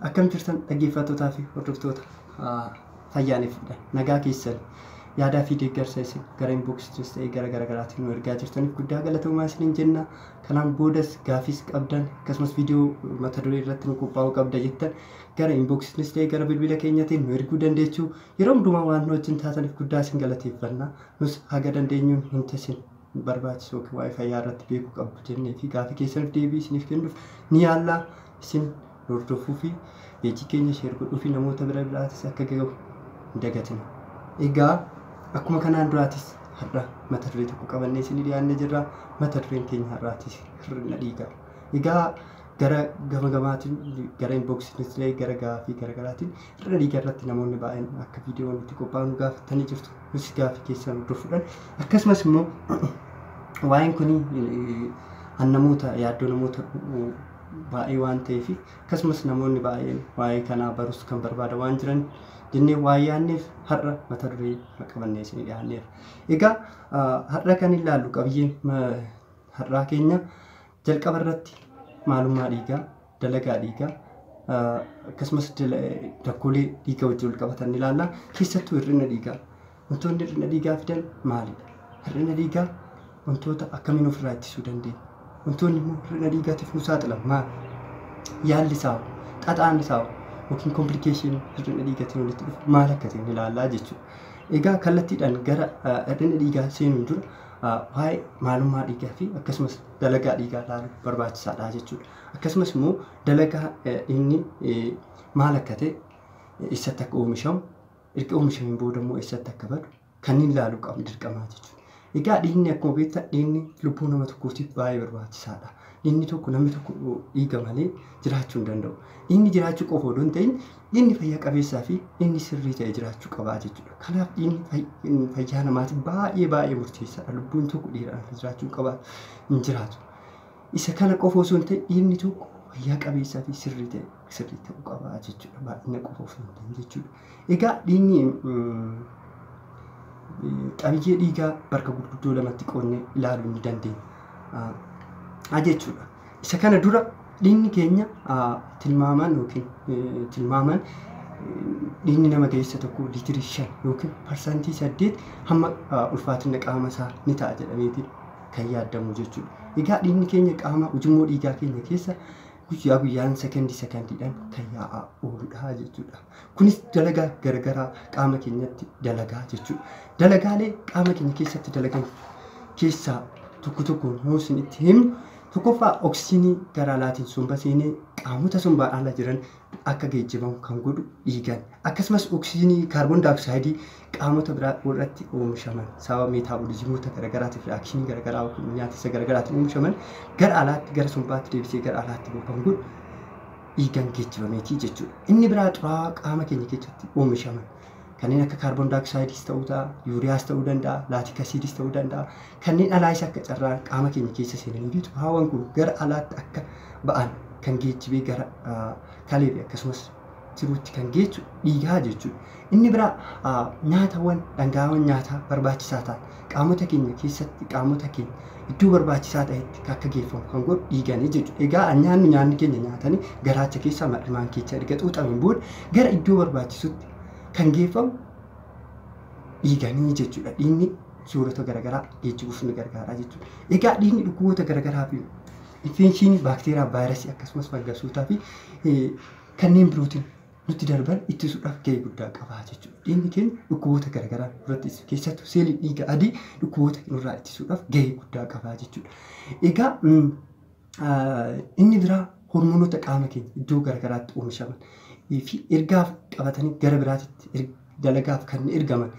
Akkam jirtan dhaggeeffattootaa fi hordoftoota fayyaaneffaadha. Nagaa keessan yaadaa fi deeggarsa isin gara inbox ta'e gara garaagaraatiin nu ergaa jirtaniif guddaa galatoomaa isiniin jenna. Kanaan boodas gaafiis qabdan akkasumas viidiyoo mata duree irratti nu qophaa'uu qabda jettan gara inboxitinis ta'e gara bilbila keenyatiin nu erguu dandeechu. Yeroo hundumaa waan nu wajjin taataniif guddaa isin galateeffanna. Nus haga dandeenyuun wanta isin barbaachisu yookiin waa'ee fayyaa irratti beekuu qabdu jennee fi gaafii keessaniif deebii isiniif kennuuf ni yaalla. Isin nu hordofuufi page keenya share godhuufi namoota bira biraatis akka gahu hin dagatina. Egaa akkuma kanaan duraatis har'a mata duree tokko qabannee isinii dhiyaanne jirra. Mata dureen keenya har'aatis hir'ina dhiigaa. Egaa gara gama gamaatiin gara inboxitiinis ta'e gara gaafii gara garaatiin hir'ina dhiigaa irratti namoonni baay'een akka viidiyoon itti qophaa'u nu gaafattanii jirtu. Nus gaafii keessan hordofuudhaan akkasumas immoo waa'een kun namoota yaaddoo namoota baay'ee waan ta'eef akkasumas namoonni baay'een waa'ee kanaa barus kan barbaada waan jiran jennee waa yaanneef har'a mata duree kana qabannee isin dhiyaanneera. Egaa har'a kan ilaallu qabiyyeen har'aa keenya jalqaba irratti maalummaa dhiigaa, dalagaa dhiigaa akkasumas rakkoolee dhiiga wajjin wal qabatan ilaalla. Keessattuu hir'ina dhiigaa. Wantoonni hir'ina dhiigaa fidan maalidha? Hir'ina dhiigaa wantoota akkamiin ofirraa ittisuu dandeenya? Wantoonni immoo hir'ina dhiigaatiif nu saaxilan maal? Yaalli isaa hoo? Xaxaan isaa hoo? Yookiin komplikeeshinii hir'ina dhiigatiin walitti dhufu maal akka ta'e ni ilaallaa jechuudha. Egaa kallattiidhaan gara hir'ina dhiigaa seenuun dura waa'ee maalummaa dhiigaa fi akkasumas dalagaa dhiigaa ilaaluun barbaachisaadha jechuudha. Akkasumas immoo dalagaa inni maal akka ta'e eessatti akka oomishamu erga oomishameen booda immoo eessatti akka badu kanneen ilaaluu qabnu dirqamaa jechuudha. Egaa dhiigni akkuma beektan dhiigni lubbuu nama tokkootiif baay'ee barbaachisaadha. Dhiigni tokko namni tokko dhiiga malee jiraachuu hin danda'u. Dhiigni jiraachuu qofa odoo hin ta'in dhiigni fayyaa qabeessaa fi dhiigni sirrii ta'e jiraachuu qabaa jechuudha. Kanaaf dhiigni fay- fayyaa namaatiif baay'ee baay'ee murteessaadha. Lubbuun tokko dhiigaan akka jiraachuu hin qabaatu hin jiraatu. Isa kana qofa osoo hin ta'in dhiigni tokko fayyaa qabeessaa fi sirrii ta'e sirrii ta'uu qaba jechuudha. Baay'ina qofa osoo hin ta'in jechuudha. Egaa dhiigni qabiyyee dhiigaa bakka gurguddoo lamatti qoodnee ilaaluu ni dandeenya jechuudha. Isa kana dura dhiigni keenya tilmaamaan yookiin tilmaamaan dhiigni nama ga'eessa tokko liitirii shan yookiin parsantii saddeet hamma ulfaatina qaama isaa ni ta'a jedhameeti kan yaadamu jechuudha. Egaa dhiigni keenya qaama ujummoo dhiigaa keenya keessa guyyaa guyyaan sekondii sekondiidhaan kan yaa'aa ooludha jechuudha. Kunis dalagaa garagaraa qaama keenyatti dalagaa jechuudha. Dalagaalee qaama keenya keessatti dalagan keessaa tokko tokko yoo isin itti himnu tokkoffaa oksijiinii gara alaatiin somba seenee qaamota sombaa ala jiran akka geejjibamu kan godhu dhiigan akkasumas oksijiinii kaarboon daayoksaayidii qaamota biraa irratti oomishaman sababa meetaaboliizimoota garagaraatiif reaakshinii garagaraa yookiin nyaatiinsa garagaraatiin oomishaman gara alaatti gara sombaatti deebisee gara alaatti bobban kun dhiigaan geejjibameetii jechuudha. Inni biraa xuraawaa qaama keenya keessatti oomishaman kanneen akka kaarboon daayoksaayidis ta'uu ta'a, yuuriyaas ta'uu danda'a, laatik asiidis ta'uu danda'a. Kanneen alaayis akka carraan qaama keenya keessa seenanii fi xuraawaan kun gara alaatti akka ba'an kan geejjibee gara kalee fi akkasumas jiruutti kan geessu dhiigaa jechuudha. Inni biraa nyaatawwan dhangaa'aawwan nyaataa barbaachisaa ta'an qaamota keenya keessatti qaamota keenya iddoo barbaachisaa ta'etti akka geeffamu kan godhu dhiiganii jechuudha. Egaa nyaanni nyaanni keenya nyaatanii garaacha keessaa mar'imaan keessa erga xuuxameen booda gara iddoo barbaachisutti kan geeffamu dhiiganii jechuudha. Dhiigni suurota garaagaraa geejjibuuf ni gargaara jechuudha. Egaa dhiigni dhukkuboota garaagaraa fi infekshinii baakteeriyaa, vaayirasii akkasumas fangasootaa fi kanneen birootiin nutti darban ittisuudhaaf gahee guddaa qaba jechuudha. Dhiigni keenya dhukkuboota garaagaraa irratti ittisa. Keessattuu seeliin dhiiga adii dhukkuboota irraa ittisuudhaaf gahee guddaa qaba jechuudha. Egaa inni biraa hormoonota qaama keenya iddoo garaagaraatti oomishaman fi ergaaf qabatanii gara biraatitti dalagaa fi kan ergaman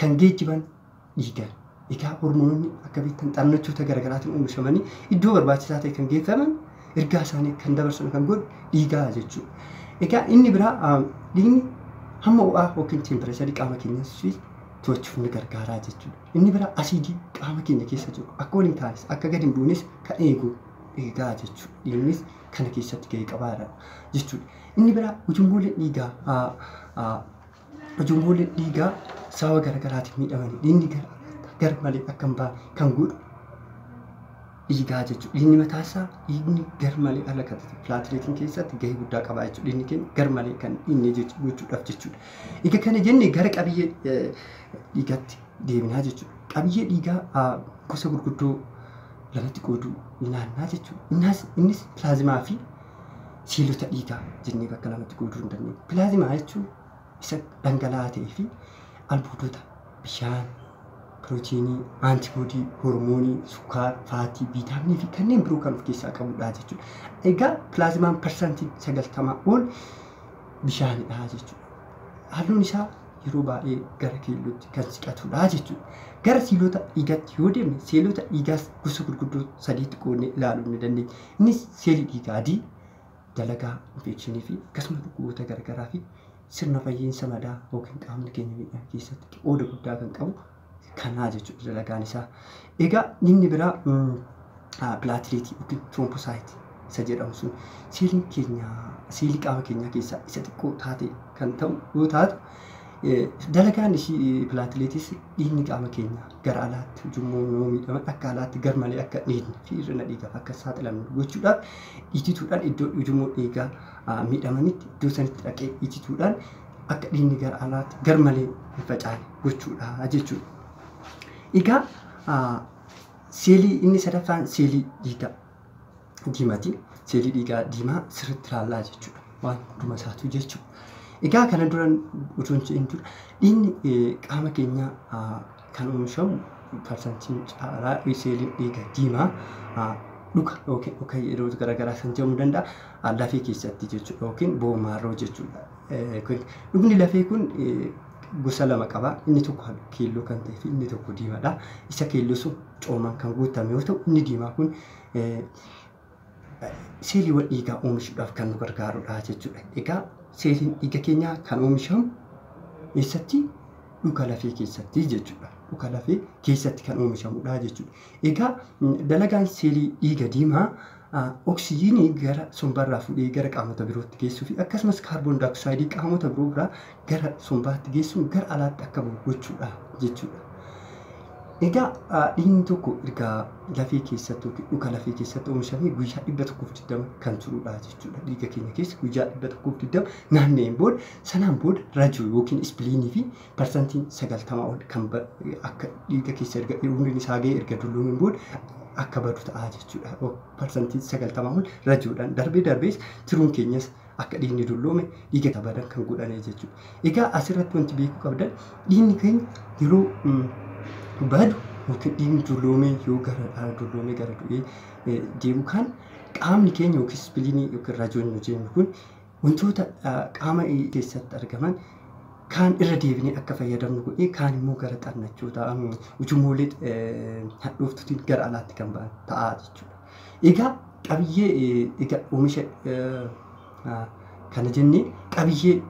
kan geejjiban dhiigan. Egaa hormoononni akka beektan xannachoota garaagaraatiin oomishamanii iddoo barbaachisaa ta'e kan geeffaman ergaa isaanii kan dabarsan kan godhu dhiigaa jechuudha. Egaa inni biraa dhiigni hamma ho'aa yookiin teempireecharii qaama keenyaas to'achuuf ni gargaaraa jechuudha. Inni biraa asiidii qaama keenya keessa jiru akka waliin taanis akka gadi hin buunes kan eegu dhiigaa jechuudha. Dhiignis kana keessatti gahee qabaadha jechuudha. Inni biraa ujummooleen dhiigaa Ujummoonni dhiigaa sababa garaagaraatiin miidhamanii dhiigni gar malee akka hin baane kan godhu dhiigaa jechuudha. Dhiigni mataa isaa dhiigni gar malee ala kan ta'e pilaatileetiin keessatti gahee guddaa qaba jechuudha. Dhiigni keenya gar malee kan dhiigne gochuudhaaf jechuudha. Egaa kana jenne gara qabiyyee dhiigaatti deebinaa jechuudha. Qabiyyee dhiigaa gosa gurguddoo lamatti qooduu naannaa jechuudha. Innis pilaazimaa fi seelota dhiigaa jennee bakka lamatti qooduu hin dandeenyu. Pilaazimaa jechuun isa dhangala'aa ta'ee fi albuudota bishaan, pirootiinii, antiboodii, hormoonii, sukkaara, faatii, viitaaminii fi kanneen biroo kan of keessaa qabudha jechuudha. Egaa pilaazimaan parsantiin sagaltamaa ol bishaanidha jechuudha. Halluun isaa yeroo baay'ee gara keellootti kan siqatudha jechuudha. Gara seelota dhiigatti yoo deemne seelota dhiigaas gosa gurguddoo sadiitti qoodnee ilaaluu ni dandeenya. Innis seelii dhiigaa adii dalagaa infeekshinii fi akkasuma dhukkuboota garagaraa fi sirna fayyiinsa madaa yookiin qaamni keenya miidhaan keessatti qooda guddaa kan qabu kanaa jechuudha dalagaan isaa. Egaa inni biraa pilaatileetii yookiin tiroompoosaayit isa jedhamu sun seeliin keenya seelii qaama keenyaa keessaa isa xiqqoo taate kan ta'u yoo taatu dalagaan ishii pilaatileetis dhiigni qaama keenyaa gara alaatti ujummoo yoo miidhaman akka alaatti garmalee akka hin dhiitne fi hir'ina dhiigaaf akka hin saaxilamne gochuudhaaf itituudhaan iddoo ujummoo dhiigaa ah, miidhamanitti iddoo sanitti dhaqee itituudhaan akka dhiigni gara alaatti garmalee hin facaane gochuudha jechuudha. Egaa ah, seelii inni sadaffaan seelii dhiigaa. diimati. Seelii dhiigaa diimaa sirriitti ilaallaa jechuudha. Waan hunduma isaatuu jechuudha. Egaa kana duran utuu hin jedhin dura dhiigni eh, qaama keenyaa ah, kan oomishamu parsantiin caalaa seeliin dhiiga diimaa ah, dhuka yookiin dhuka yeroo garaagaraa kan jedhamu danda'a ah, lafee keessatti jechuudha yookiin boomaarroo jechuudha. Eh, kun- Dhugni lafee kun eh, gosa lama qaba. Inni tokko keelloo kan ta'e fi inni tokko diimaadha. Isa keelloo sun coomaan kan guutame yoo ta'u inni diimaa kun seeliiwwan dhiigaa oomishuudhaaf kan nu gargaarudha jechuudha. Egaa seeliin dhiiga keenyaa kan oomishamu eessatti? Dhuka lafee keessatti jechuudha. Dhuka lafee keessatti kan oomishamudha jechuudha. Egaa dalagaan seelii dhiiga diimaa oksijiinii gara sombarraa fuudhee gara qaamota birootti geessuu fi akkasumas kaarboon daayooksaayidii qaamota biroo biraa gara sombaatti geessuun gara alaatti akka bahu gochuudha jechuudha. Egaa dhiigni tokko erga lafee keessatti yookiin dhuka lafee keessatti oomishamee guyyaa dhibba tokkoof digdama kan turudha jechuudha. Dhiiga keenya keessa guyyaa dhibba tokkoof digdama naanna'een booda sanaan booda rajuu yookiin ispiliinii fi parsantiin sagaltama ol kan akka dhiiga keessa erga umriin isaa ga'ee erga dulluumeen booda akka badu ta'a jechuudha. Parsantiin sagaltama ol rajuudhaan darbee darbees tiruun keenyas akka dhiigni dulloome dhiiga tabadan kan godhane jechuudha. Egaa asirratti wanti beekuu qabdan dhiigni keenya yeroo badu yookiin dhiigni dulloomee yoo gara dhaala dulloomee gara du'ee deemu kan qaamni keenya yookiin ispiliinii yookiin rajoon nu jennu kun wantoota qaama keessatti argaman kaan irra deebinee akka fayyadamnu godhee kaan immoo gara xannachoota ujumoolee hadhooftuutiin gara alaatti kan ba'an ta'a jechuudha. Egaa qabiyyee egaa oomisha kana jennee qabiyyee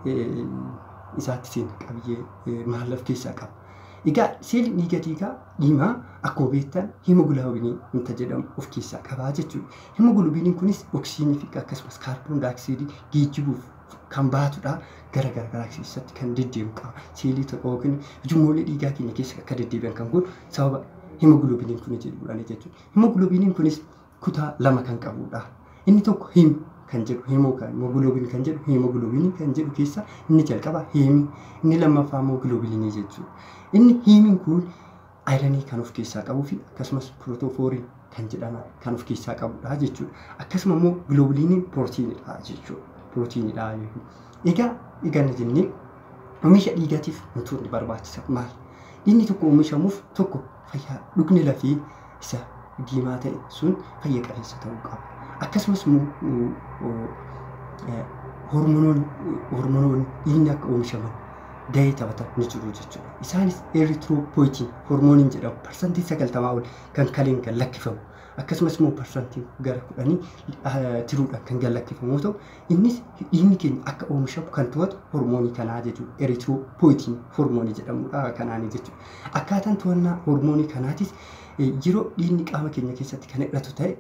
isaatti seena qabiyyee maal of keessaa qaba. Egaa seeliin dhiiga dhiigaa dhiimaa akkuma beektan himoogiloobiinii wanta jedhamu of keessaa qabaa jechuudha. Himoogiloobiiniin kunis oksijiinii fi akkasumas kaarboon daayoksiidii geejjibuuf kan baatudha. Gara garagaraa keessatti kan deddeemu qaba. Seelii tokko yookiin ujummoollee dhiigaa keenya keessa akka deddeebi'an kan godhu sababa himoogiloobiiniin kun jedhuudhaan jechuudha. Himogulobiiniin kunis kutaa lama kan qabuudha. Inni tokko him kan jedhu himoo kan himogulobiin kan jedhu himogulobiinii kan jedhu keessa inni jalqaba hiimi inni lammaffaa immoo gilobiinii jechuudha. Inni hiimiin kun ayiranii kan of keessaa qabuu fi akkasumas pirootoofoorii kan jedhaman kan of keessaa qabudha jechuudha. Akkasuma immoo gilobiiniin pirootiinidha jechuudha. Pirootiinidha jechuudha. Egaa eganna jennee oomisha dhiigatiif wantoonni barbaachisan maal? Dhiigni tokko oomishamuuf tokko fayyaa dhugni lafee isa diimaa ta'e sun fayya qabeessa ta'uu qaba. Akkasumas hormonoonni dhiigni akka oomishaman gahee taphatan ni jiru jechuudha. Isaanis eritiroopoyitiin hormooniin jedhamu parsantii sagaltamaa ol kan kaleen kan lakkifamu akkasumas immoo parsantii gara kudhanii tiruudhaan kan gad lakkifamu yoo ta'u Innis dhiigni keenya akka oomishamu kan to'atu hormoonii kanaa jechuudha. Eritiroopoyitiin hormoonii jedhamudha kanaanii jechuudha. Akkaataan to'annaa hormoonii kanaatis yeroo dhiigni qaama keenya keessatti kan hir'atu ta'e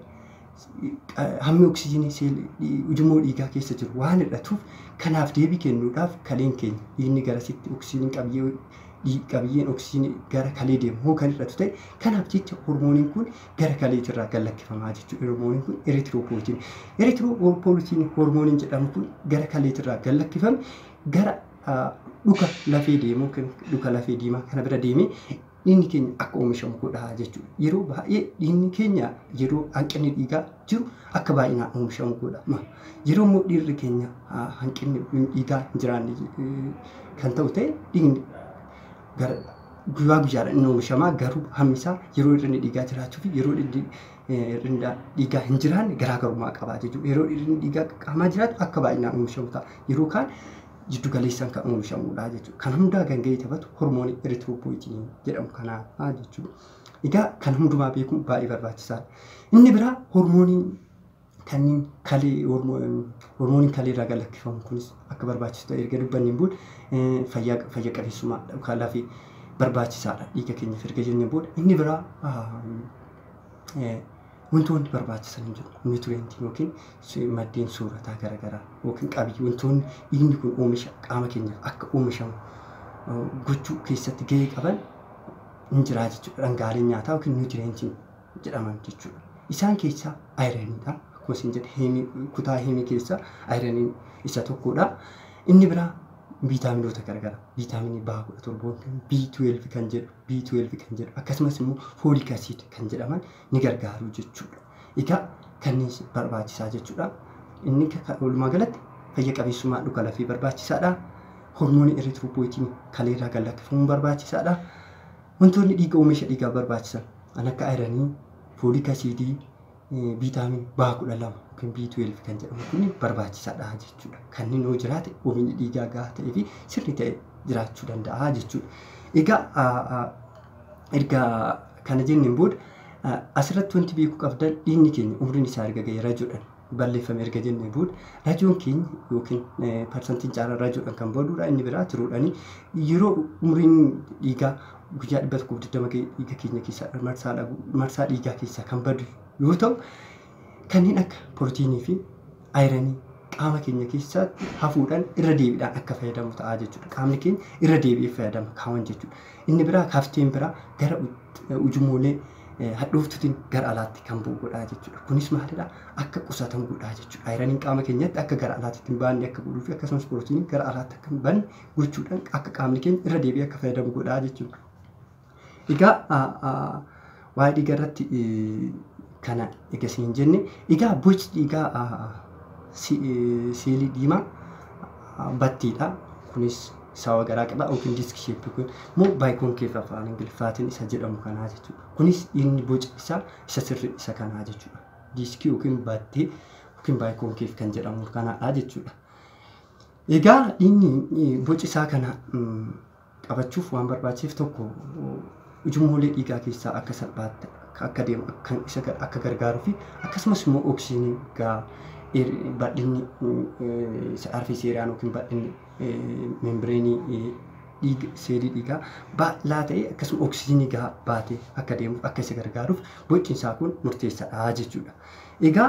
hammi oksijiinii seelii ujummoo dhiigaa keessa jiru waan hir'atuuf kanaaf deebii kennuudhaaf kaleen keenya dhiigni garasitti oksijiinii qabiyyee qabiyyeen oksijiinii gara kalee deemu hoo kan hir'atu ta'e kanaaf jecha hormooniin kun gara kaleetii irraa gad lakkifamaa jechuudha hormooniin kun eritiroopoolitiin. Eritiroopoolitiin hormooniin jedhamu kun gara kaleetii irraa gad lakkifame gara dhuka lafee deemuu yookiin dhuka lafee diimaa kana bira deemee dhiigni keenya akka oomishamu godha jechuudha. Yeroo baay'ee dhiigni keenya yeroo hanqinni dhiigaa jiru akka baay'inaan oomishamu godha. Yeroo immoo dhiirri keenya hanqinni dhiigaa hin jiraanne kan ta'u ta'e dhiigni Bara guyyaa guyyaadhaan inni oomishama garuu hammi isaa yeroo hir'inni dhiigaa jiraachuu fi yeroo hir'inni dhiigaa hin jiraanne garaagarummaa qaba jechuudha. Yeroo hir'inni dhiigaa qaamaa jiraatu akka baay'inaan oomishamu ta'a. Yeroo kaan jiddu galeessaan kan oomishamudha jechuudha. Kan hundaa kan gahee taphatu hormoonii eritiroopoyitinii jedhamu kanaa jechuudha. Egaa kan hundumaa beekuun baay'ee barbaachisaadha. Inni biraa hormoonii Kanneen kalee hormooniin kalee irraa gad lakkifamu kunis akka barbaachisu ta'e erga dubbanneen booda fayyaa fayya qabeessummaa yookaan lafee barbaachisaadha dhiiga keenyaaf erga jenneen booda inni biraa wantoonni barbaachisan hin jiru nutireentii yookiin maddeen soorataa garaagaraa yookiin qabiyyee wantoonni dhiigni kun oomisha qaama keenyaaf akka oomishamu gochuu keessatti gahee qaban hin jiraa jechuudha dhangaaleen nyaataa yookiin nutireentiin jedhaman jechuudha. Isaan keessaa ayiraniidha. Akkuma isin jedhe heemii kutaa heemii keessaa ayiraniin isa tokkodha. Inni biraa viitaaminoota garagara. Viitaaminii baha kudha torboon kan B12 kan jedhu B12 kan jedhu akkasumas immoo foolik asiid kan jedhaman ni gargaaru jechuudha. Egaa kanneen barbaachisaa jechuudha. Inni walumaa galatti fayya qabeessummaa dhuka lafee barbaachisaadha. Hormoonii eritiroopoyitiin kaleerraa gad lakkifamuun barbaachisaadha. Wantoonni dhiiga oomisha dhiigaa barbaachisan kan akka ayiranii, foolik asiidii, viitaamin B kudha lama yookiin B12 kan jedhamu kun barbaachisaadha jechuudha. Kanneen yoo jiraate oomishni dhiigaa gahaa ta'ee fi sirri ta'e jiraachuu danda'a jechuudha. Egaa erga kana jenneen booda asirratti wanti beekuu qabdan dhiigni keenya umriin isaa erga ga'e rajoodhaan balleeffame erga jennee booda rajoon keenya yookiin parsantiin caalaa rajoodhaan kan boodudha inni biraa tiruudhaani yeroo umriin dhiigaa guyyaa dhibba tokkoof digdama ga'e dhiiga keenya keessaa marsaa dhabu marsaa dhiigaa keessaa kan badu yoo ta'u kanneen akka pirootiinii fi ayiranii qaama keenya keessaatti hafuudhaan irra deebiidhaan akka fayyadamu ta'a jechuudha qaamni keenya irra deebi'ee fayyadama kaawwan jechuudha inni biraa kafteen biraa gara ujumoolee hadhooftuutiin gara alaatti kan bu'u godhaa jechuudha. Kunis maalidha? Akka qusatan godhaa jechuudha. Ayiraniin qaama keenyatti akka gara alaatti ittiin baanne akka godhuu fi akkasumas pirootiiniin gara alaatti akka hin banne gochuudhaan akka qaamni keenya irra deebi'ee akka fayyadamu godhaa jechuudha. Egaa waa'ee dhiigaa irratti kana egaa isin hin jenne. Egaa boci dhiigaa seelii diimaa battiidha. Kunis sawa garaa qaba open disk shape yookiin immoo baayikonkeef afaan ingiliffaatiin isa jedhamu kanaa jechuudha. Kunis inni boci isaa isa sirrii isa kanaa jechuudha. Diiskii yookiin battee yookiin baayikonkeef kan jedhamu kanaadha jechuudha. Egaa inni boci isaa kana qabachuuf waan barbaachiseef tokko ujummoolee dhiigaa keessaa akka salphaatti akka deemu kan isa akka gargaaruu fi akkasumas immoo oksijiinii gaa bal'inni isa arfeeseeraan yookiin bal'inni membireenii dhiiga seelii dhiigaa bal'aa ta'e akkasuma oksijiinii gahaa baatee akka deemuuf akka isa gargaaruuf boci isaa kun murteessaadha jechuudha. Egaa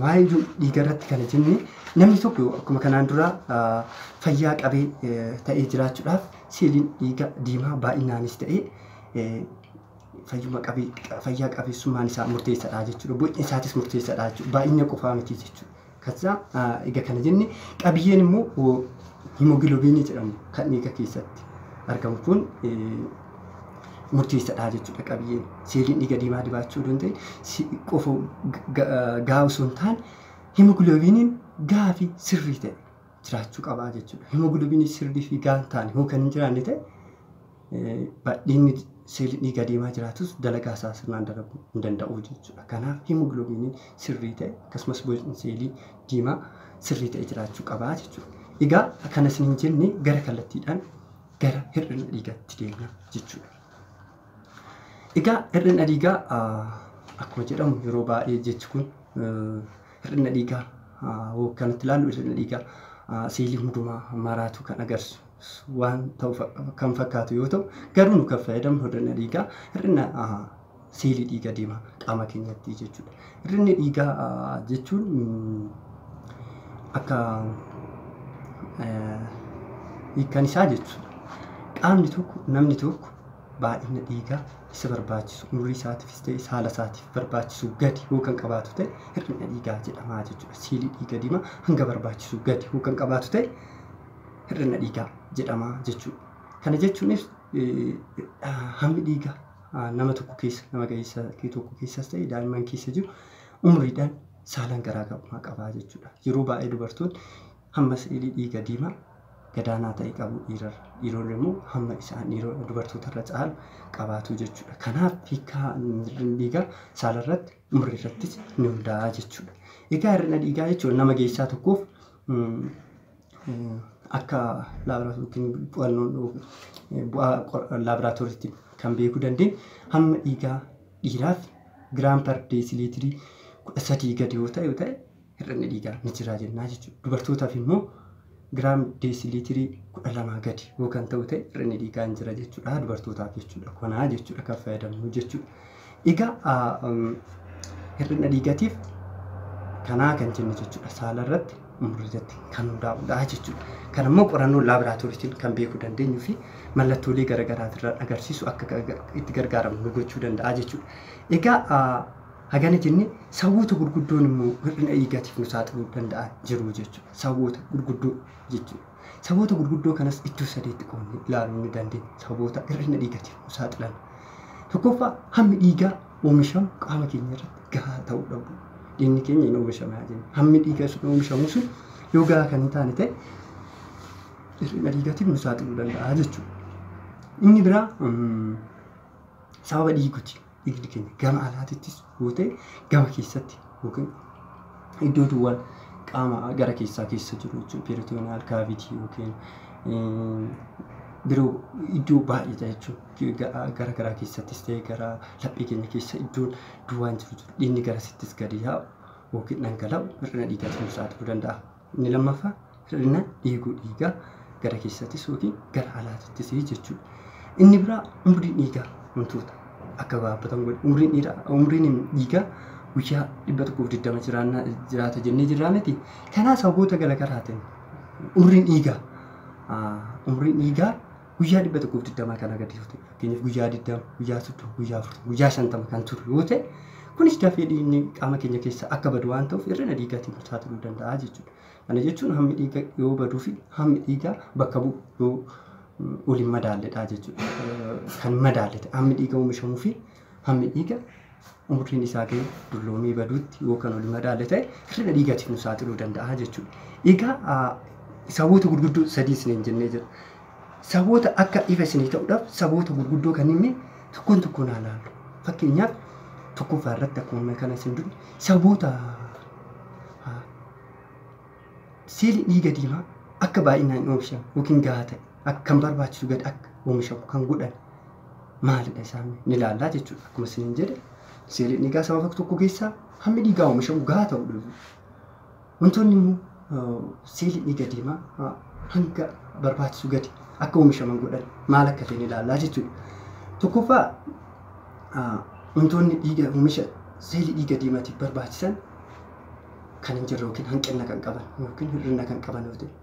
maayiluu dhiiga irratti kana jenne namni tokko akkuma kanaan dura fayyaa qabee ta'ee jiraachuudhaaf seeliin dhiiga diimaa baay'inaanis ta'e fayyuma qabee fayyaa qabeessummaan isaa murteessaadha jechuudha. Bocni isaatis murteessaadha jechuudha. Baay'ina qofaa miti jechuudha. kassa. Egaa kana jenne qabiyyeen immoo himogilobiinii jedhamu kan dhiiga keessatti argamu kun murteessadha jechuudha qabiyyeen. Seeliin dhiiga diimaa dibaachuu odoo hin ta'in si- qofa ga- gahaa osoo hin taane himogilobiiniin gahaa fi sirrii ta'e jiraachuu qabaa jechuudha. Himogilobiinii sirrii fi gahaa hin taane yoo kan hin jiraanne ta'e Badhiinni seelii dhiigaa deemaa jiraatus dalagaa isaa sirnaan dalaguu hin danda'u jechuudha. Kanaaf himogiloobiiniin sirrii ta'e akkasumas bocni seelii diimaa sirrii ta'e jiraachuu qabaa jechuudha. Egaa kana isin hin jenne gara kallattiidhaan gara hir'ina dhiigaatti deemna jechuudha. Egaa hir'ina dhiigaa akkuma jedhamu yeroo baay'ee jechi kun Hir'ina dhiigaa hoogganatti ilaallu hir'ina dhiigaa seelii hundumaa maraatu kan agarsiisu waan ta'u kan fakkaatu yoo ta'u garuu nu kan fayyadamnu hir'ina dhiigaa hir'ina seelii dhiiga deema qaama keenyatti jechuudha. Hir'inni dhiigaa jechuun akka hiikkan isaa jechuudha. Qaamni tokko namni tokko baay'ina dhiigaa isa barbaachisu umrii isaatiifis ta'e saala isaatiif barbaachisu gadi yoo kan qabaatu ta'e hir'ina dhiigaa jedhama jechuudha. Siilii dhiiga diimaa hanga barbaachisu gadi yoo kan qabaatu ta'e hir'ina dhiigaa jedhama jechuudha. Kana jechuunis hammi dhiiga nama tokko keessa nama ga'eessa tokko keessas ta'e daa'imman keessa jiru umriidhaan saalaan garaagarummaa qaba jechuudha. Yeroo baay'ee dubartoonni Hamma si'ilii dhiiga diimaa gadaanaa ta'e qabu dhiirarra, dhiironni immoo hamma isaan dhiiro dubartootarra caalu qabaatu jechuudha. Kanaaf hiikkaa hir'inni dhiigaa saalarratti, umriirrattis ni hundaa'a jechuudha. Egaa hir'ina dhiigaa jechuun nama geessaa tokkoof akka laaboraatoorii qo'annoon bu'aa laaboraatooriitti kan beekuu dandeenyu hamma dhiigaa dhiiraaf giraam par deesiliitirii kudha sadii gadi yoo ta'e yoo ta'e hir'inni dhiigaa ni jiraa jennaa jechuudha. Dubartootaaf immoo giraam deesiliitirii kudha lamaa gadi yoo kan ta'u ta'e hir'inni dhiigaa hin jira jechuudha. Dubartootaaf jechuudha. Konaa jechuudha kan fayyadamnu jechuudha. Egaa hir'ina dhiigatiif kanaa kan jennu jechuudha. Saala irratti umrii irratti kan hundaa'udha jechuudha. Kan immoo qorannoo laaboraatooriitiin kan beekuu dandeenyu fi mallattoolee garaagaraatirraan agarsiisu akka itti gargaaramnu nu gochuu danda'a jechuudha. Egaa Hagana jenne sawoota gurguddoon immoo hir'ina dhiigaatiif nu saaxiluu danda'an jiru jechuudha. Sawoota gurguddoo jechuudha. Sawoota gurguddoo kanas iddoo sadeetti qoodnee ilaaluu ni dandeenya. Sawoota hir'ina dhiigaatiif nu saaxilan. Tokkoffaa hammi dhiigaa oomishamu qaama keenya irratti gahaa ta'uu dhabu. Dhiigni keenya hin oomishame haa jennu. Hammi dhiigaa sun oomishamu sun yoo gahaa kan hin taane ta'e hir'ina dhiigaatiif nu saaxiluu danda'a jechuudha. Inni biraa sababa dhiiguti. idil keenya gama alaatittis yoo ta'e gama keessatti yookiin iddoo duwwaan qaama gara keessaa keessa jiru jechuudha. Peritooniyaal kaavitii yookiin biroo iddoo baay'eedha jechuudha. Gara garaa keessattis ta'e gara laphee keenya keessa iddoon duwwaan jiru jiru. Dhiigni garasittis gadi yaa'u yookiin dhangala'u hir'ina dhiigaatiin nu saaxiluu danda'a. Inni lammaffaa hir'ina dhiiguu dhiigaa gara keessattis yookiin gara alaatittis jechuudha. Inni biraa umriin dhiigaa wantoota akka gabaabbatan godha. Umriin dhiiraa umriin dhiigaa guyyaa 120 jiraannaa jiraata jennee jirraa miti. Kanaa sababoota garaagaraatiin umriin dhiigaa umriin dhiigaa guyyaa dhibba tokkoof digdamaa kanaa gadi yoo ta'e fakkeenyaaf guyyaa digdama guyyaa soddoma guyyaa afurtama guyyaa shantama kan turu yoo ta'e kunis dafee dhiigni qaama keenya keessa akka badu waan ta'uuf hir'ina dhiigaatiin nu saaxiluu danda'a jechuudha. Kana jechuun hammi dhiiga yoo baduu fi hammi dhiigaa bakka bu'u yoo waliin madaalledha jechuudha. Kan madaalle ta'e hammi dhiiga oomishamuu fi Hammi dhiiga umriin isaa ga'e dulloomee baduutti yoo kan wal madaalle ta'e hir'ina dhiigatiif nu saaxiluu danda'a jechuudha. Egaa saboota gurguddoo sadii isiniin jennee jira. Saboota akka ifa isinii ta'uudhaaf saboota gurguddoo kan inni tokkoon tokkoon haa laallu. Fakkeenyaaf tokkoffaa irratti akkuma kana isin duri saboota seelii dhiiga diimaa akka baay'inaan hin oomishan yookiin gahaa ta'e akkan barbaachisu gad akka oomishamu kan godhan maalidha isaan ni ilaallaa jechuudha. Akkuma isiniin jedhe seeliin dhiigaa sababa tokko keessaa hammi dhiigaa oomishamu gahaa ta'uu dhibu. Wantoonni immoo seeliin dhiiga diimaa hanga barbaachisu gadi akka oomishaman godhan maal akka ta'e ni ilaallaa jechuudha. Tokkoffaa wantoonni dhiiga oomisha seelii dhiiga diimaatiif barbaachisan kan hin jirre yookiin hanqina kan qaban yookiin hir'ina kan qaban yoo ta'e.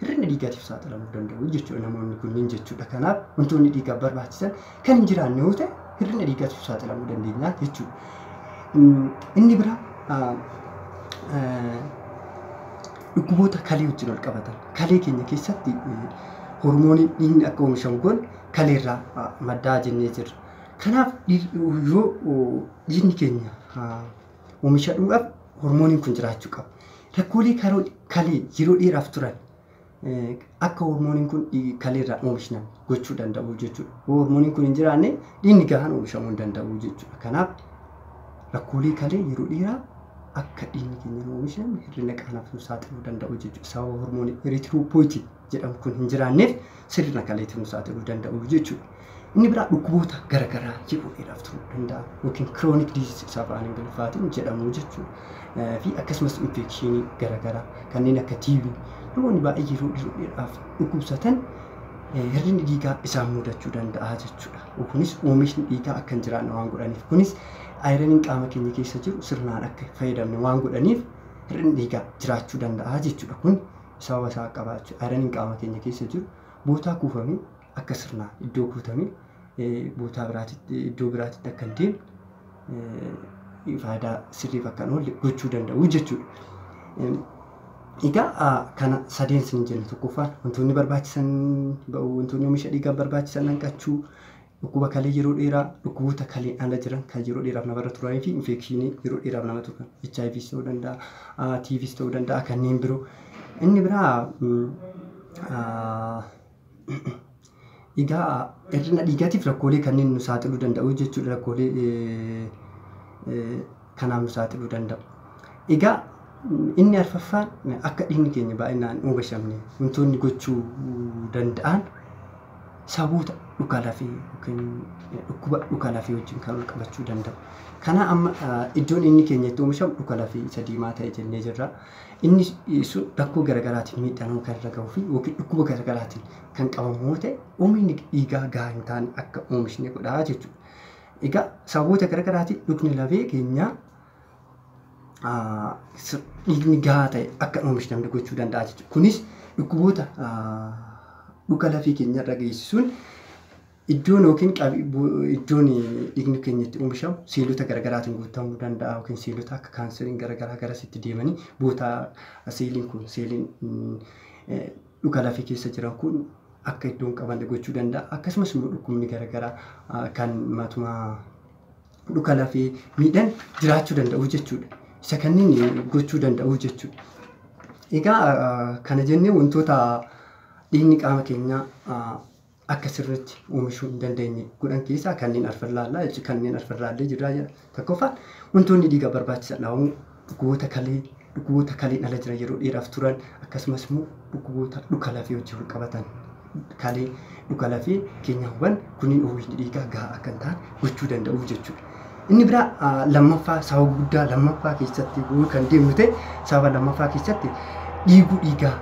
hir'ina dhiigaatiif saaxilamuu danda'u jechuudha namoonni kunniin jechuudha. Kanaaf wantoonni dhiigaaf barbaachisan kan hin jiraanne yoo ta'e hir'ina dhiigaatiif saaxilamuu dandeenya jechuudha. Mm, Inni biraa ah, eh, dhukkuboota kalee wajjin wal qabatan kalee keenya keessatti eh, hormooniin dhiigni akka oomishamu kun kaleerraa ah, maddaa jennee jirra. Kanaaf dhiig- yoo oh, dhiigni keenya ah, Oomisha dhuudhaaf hormooniin kun jiraachuu qaba. Rakkoolee karoo- kalee yeroo dheeraaf turan eh, akka hormooniin kun dhii- kalee irraa oomishnan gochuu danda'u jechuudha. Yoo hormooniin kun hin jiraanne dhiigni gahaan oomishamuu hin danda'u jechuudha. Kanaaf rakkoolee kalee yeroo dheeraa akka dhiigni keenya hin oomishne hir'ina qaanaaf nu saaxiluu danda'u jechuudha. Sababa hormoonii erythropoietin jedhamu kun hin jiraanneef sirna kaleetti nu saaxiluu danda'u jechuudha. Inni biraa dhukkuboota garaagaraa yeroo dheeraaf turuu danda'a yookiin kiroonik diizis isa afaan ingiliffaatiin jedhamu jechuudha. Fi akkasumas infekshinii garaagaraa kanneen akka tiibii namoonni baay'ee yeroo yeroo dheeraaf dhukkubsatan hir'inni dhiigaa isaan mudachuu danda'a jechuudha. Kunis oomishni dhiigaa akka hin jiraanne waan godhaniif kunis ayiraniin qaama keenya keessa jiru sirnaan akka hin fayyadamne waan godhaniif hir'inni dhiigaa jiraachuu danda'a jechuudha. Kun saawwa isaa qaqqabaa jechuudha. Ayiraniin qaama keenya keessa jiru bootaa kuufame akka sirnaan iddoo kuutame bootaa biraatitti iddoo biraatitti akka hin deemne faayidaa sirriif akka hin oolle gochuu danda'u jechuudha. Egaa kana sadeen isin jenne tokkoffaan wantoonni barbaachisan wantoonni oomisha dhiigaaf barbaachisan hanqachuu Dhukkuba kalee yeroo dheeraa, dhukkuboota kaleen ala jiran kan yeroo dheeraaf namarra turanii fi infeekshinii yeroo dheeraaf nama turan HIVs ta'uu danda'a, TVs ta'uu danda'a kanneen biroo. Inni biraa egaa hir'ina dhiigaatiif rakkoolee kanneen nu saaxiluu danda'u jechuudha rakkoolee kanaaf nu saaxiluu danda'a. Egaa inni arfaffaan akka dhiigni keenya baay'inaan hin oogashamne wantoonni gochuu danda'an sababoota dhuka lafee yookiin dhukkuba dhuka lafee wajjin kan wal qabachuu danda'u. Kana amma iddoon inni keenya itti oomishamu dhuka lafee isa diimaa ta'e jennee jirra. Inni sun rakkoo garaagaraatiin miidhaa nama kan irra gahuu fi yookiin dhukkuba garaagaraatiin kan qabamu yoo ta'e oomishni dhiigaa gahaa hin taane akka oomishne godha jechuudha. Egaa sababoota garaagaraatiin dhukni lafee keenyaa dhiigni gahaa ta'e akka hin oomishne gochuu danda'a jechuudha. Kunis dhukkuboota dhuka lafee keenyarra geessisuun iddoon yookiin iddoon dhiigni keenya itti oomishamu seelota garaagaraatiin guutamuu danda'a yookiin seelota akka kaanseriin garaagaraa garasitti deemanii bootaa seeliin kun seeliin dhuka lafee keessa jiran kun akka iddoo hin qabanne gochuu danda'a. Akkasumas immoo dhukkubni garaagaraa kan matuma dhuka lafee miidhan jiraachuu danda'u jechuudha. Isa kanneen gochuu danda'u jechuudha. Egaa kana jennee wantoota dhiigni qaama keenyaa akka sirriitti oomishuu hin dandeenye godhan keessaa kanneen arfan ilaallaa jechuudha. Kanneen arfan ilaallee jirraa jedha. Tokkoffaan wantoonni dhiigaa barbaachisan dhahamu dhukkuboota kalee dhukkuboota kaleen ala jiran yeroo dheeraaf turan akkasumas immoo dhukkuboota dhuka lafee wajjin wal qabatan kalee dhuka lafee keenya huban kunniin oomishni dhiigaa gahaa akka hin taane gochuu danda'u jechuudha. Inni biraa lammaffaa sababa guddaa lammaffaa keessatti kan deemnu ta'e sababa lammaffaa keessatti dhiiguu dhiigaa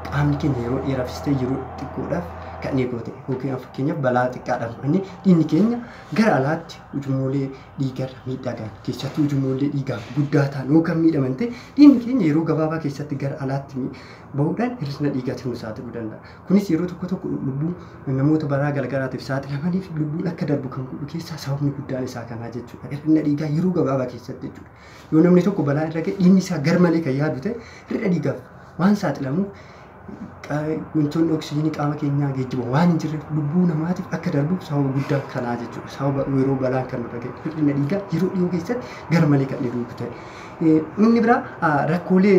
qaamni keenya yeroo dheeraafis ta'e yeroo xiqqoodhaaf kan dhiigoo ta'e yookiin fakkeenyaaf balaa xiqqaadhaaf inni dhiigni keenya gara alaatti ujummoolee dhiigarra miidhaa gahan keessattuu ujummoolee dhiigaa guddaa ta'an yoo kan miidhaman ta'e dhiigni keenya yeroo gabaabaa keessatti gara alaatti bahuudhaan hir'ina dhiigaatiin nu saaxiluu danda'a. Kunis yeroo tokko tokko lubbuu namoota balaa garagaraatiif saaxilamaniif lubbuun akka darbu kan godhu keessaa sababni guddaan isaa kanaa jechuudha. Hir'ina dhiigaa yeroo gabaabaa keessatti jechuudha. Yoo namni tokko balaa irra ga'e dhiigni isaa garmalee kan yaadu ta'e hir'ina dhiigaaf waan saaxilamuuf wantoonni oksijiinii qaama keenyaa geejjiba waan hin jirreef lubbuu namaatiif akka darbu sababa guddaan kanaa jechuudha. Sababa yeroo balaan kan nurra ga'e hir'ina dhiigaa yeroo dhiyoo keessatti garmalee kan dhiigu ta'e. Inni biraa rakkoolee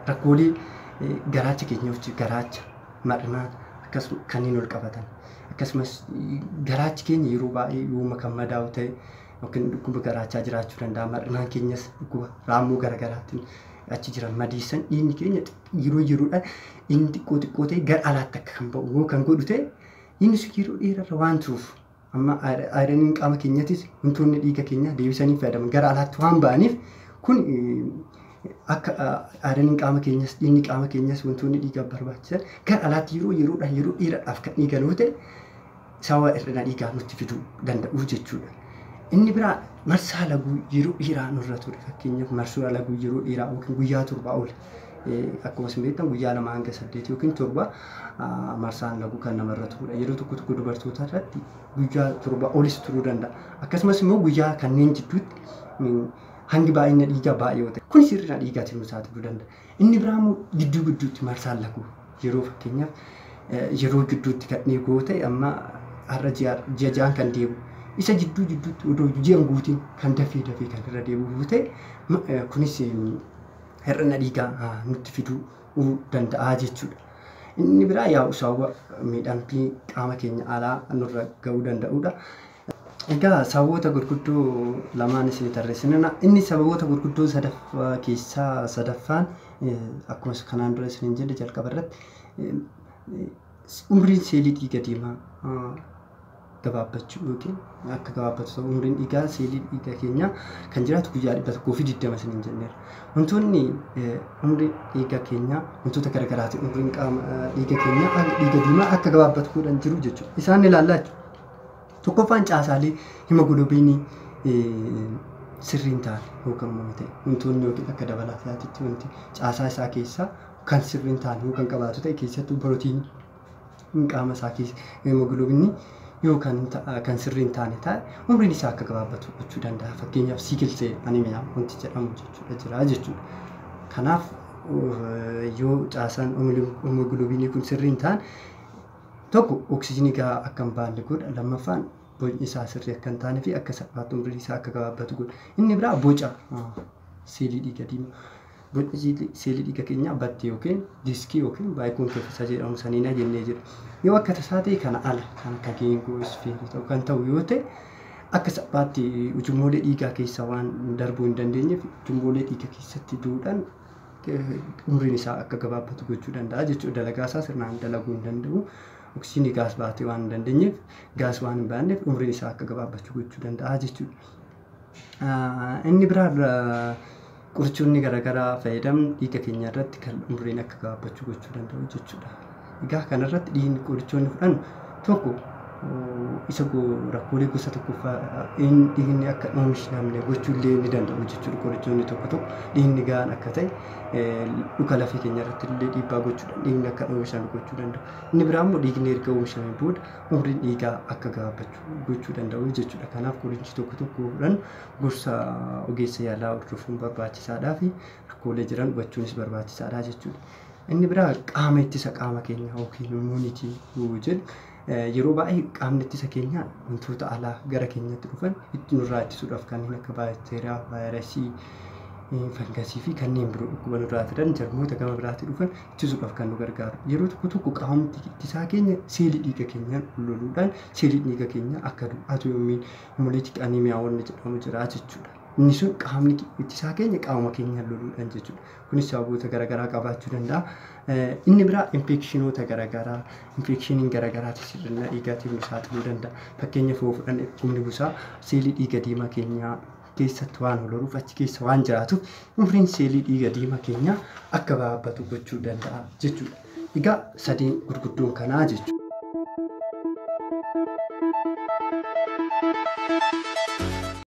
Rakkoolee garaacha keenyawajji garaacha, madhnaa akkasuma kanneen wal qabatan akkasumas garaachi keenya yeroo baay'ee yooma kan madaa'u ta'e yookiin dhukkuba garaachaa jiraachuu danda'a. Madhnaan keenyas dhukkuba raammoo garaagaraatiin achi jiran madeessan dhiigni keenya yeroo yeroodhaan inni xiqqoo xiqqoo ta'e gara alaatti akka kan ba'u yoo kan godhu ta'e inni sun yeroo dheerarra waan turuuf Amma ayiraniin qaama keenyattis wantoonni dhiiga keenyaa deebisanii fayyadaman gara alaatti waan ba'aniif kun akka ayiraniin qaama keenyas dhiigni qaama keenyas wantoonni dhiigaaf barbaachisan gara alaatti yeroo yeroodhaan yeroo dheeraadhaaf kan eegalu yoo ta'e sababa hir'ina dhiigaa nutti fiduu danda'u jechuudha. Inni biraa marsaa laguu yeroo dheeraa nurra ture fakkeenyaaf marsaa laguu yeroo dheeraa yookiin guyyaa torbaa ol akkuma isin beektan guyyaa lama hanga saddeet yookiin torba marsaan laguu kan namarra turudha. Yeroo tokko tokko dubartoota irratti guyyaa torba olis turuu danda'a. Akkasumas immoo guyyaa kanneen jidduutti hangi baay'ina dhiigaa baay'ee yoo ta'e kunis hir'ina dhiigaatiin nu saaxiluu danda'a. Inni biraa immoo gidduu gidduutti marsaan laguu yeroo fakkeenyaaf yeroo gidduutti kan dhiigu yoo ta'e amma har'a ji'a ja'aan kan deemu isa jidduu jidduutti odoo ji'an guutiin kan dafee dafee kan irra deebi'u yoo ta'e kunis hir'ina dhiigaa nutti fiduu danda'a jechuudha. Inni biraa yaa'u saawwa miidhamtii qaama keenya alaa nurra ga'uu danda'udha. Egaa sababoota gurguddoo lamaan isin tarreessinana. Inni sababoota gurguddoo sadaffaa keessaa sadaffaan akkuma kanaan dura isin jedhe jalqaba irratti umriin seelii dhiiga diimaa gabaabbachuu yookiin akka gabaabbatu ta'u umriin dhiigaa seelii dhiigaa keenyaa kan jiraatu guyyaa 120 isiniin jenneera. Wantoonni umrii dhiigaa keenyaa wantoota garagaraati umriin qaama dhiiga keenyaa dhiiga diimaa akka gabaabbatu godhan jiru jechuudha. Isaan ilaallaa jechuudha. Tokkoffaan caasaalee himogiloobiinii sirriin ta'an yookaan immoo ta'e wantoonni yookiin akka dabalaataatti wanti caasaa isaa keessaa kan sirriin ta'an yoo kan qabaatu ta'e keessattuu pirootiinii qaama isaa keessa hemoglobinni yoo kan ta- kan sirrii hin taane taa'e umriin isaa akka gabaabbatu gochuu danda'a fakkeenyaaf sickle cell anemia wanti jedhamu jechuudha jira jechuudha kanaaf uh, yoo caasaan hemoglobinii kun sirrii hin taane tokko oksijinii gahaa akka hin baanne godha lammaffaan bocni isaa sirrii akka hin taane fi akka salphaatti umriin isaa akka gabaabbatu godha inni biraa boca uh, seelii dhiiga diimaa Bocni seelii dhiiga keenyaa batti yookiin diskii yookiin baayikoonkeefisa jedhamu saniina jennee jira. Yoo akka tasaa ta'e kana ala kan akka geengoo isfeerii ta'u kan ta'u yoo ta'e akka salphaatti ujummoolee dhiigaa keessa waan darbuu hin dandeenyeef ujummoolee dhiiga keessatti duudhan umriin isaa akka gabaabbatu gochuu danda'a jechuudha. Dalagaa isaa sirnaan dalaguu hin danda'u. Oksijiinii gaas baatee waan hin dandeenyeef gaas waan hin baanneef umriin isaa akka gabaabbachuu gochuu danda'a jechuudha. Inni biraan qorichoonni garaagaraa fayyadamnu dhiiga keenya irratti kan umriin akka gabaabbachuu gochuu danda'u jechuudha. Egaa kanarratti dhiigni qorichoonni fudhannu tokko isa rakkoolee gosa tokkoffaa dhiigni akka hin oomishne gochuu illee ni danda'u jechuudha qorichoonni tokko tokko dhiigni gahaan akka ta'e dhuka lafee keenya irratti illee dhiibbaa gochuudhaan dhiigni akka hin oomishamne gochuu danda'u. Inni biraa immoo dhiigni erga oomishamee booda umriin dhiigaa akka gaabbachu gochuu danda'u jechuudha. Kanaaf qorichi tokko tokkodhan gorsa ogeessa yaalaa hordofuun barbaachisaadhaa fi rakkoolee jiran hubachuunis barbaachisaadha jechuudha. Inni biraa qaama ittisa qaama keenya yookiin immuunitii jedhu yeroo baay'ee qaamni ittisa keenya wantoota alaa gara keenyatti dhufan itti nurraa ittisuudhaaf kanneen akka baakteeriyaa, vaayirasii, fangasii fi kanneen biroo dhukkuba nurraa fidan jarmoota gama biraatii dhufan ittisuudhaaf kan nu gargaaru yeroo tokko tokko qaamumti ittisaa keenya seelii dhiiga keenyaan loluudhaan seeliin dhiiga keenyaa akka du'u atoomiin moleetik aneemiyaa wanni jedhamu jira jechuudha. Inni sun qaamni ittisaa keenya qaama keenyaan loluudhaan jechuudha. Kunis sababoota garaagaraa qabaachuu danda'a. Inni biraa infeekshinoota garaagaraa infeekshiniin garaagaraatiif hir'ina dhiigaatiif nu saaxiluu danda'a. Fakkeenya foo fudhanne dhukkubni busaa seelii dhiiga diimaa keenyaa keessatti waan ol horuuf achi keessa waan jiraatuuf umriin seelii dhiiga diimaa keenyaa akka baabbatu gochuu danda'a jechuudha. Egaa sadeen gurguddoon kanaa jechuudha.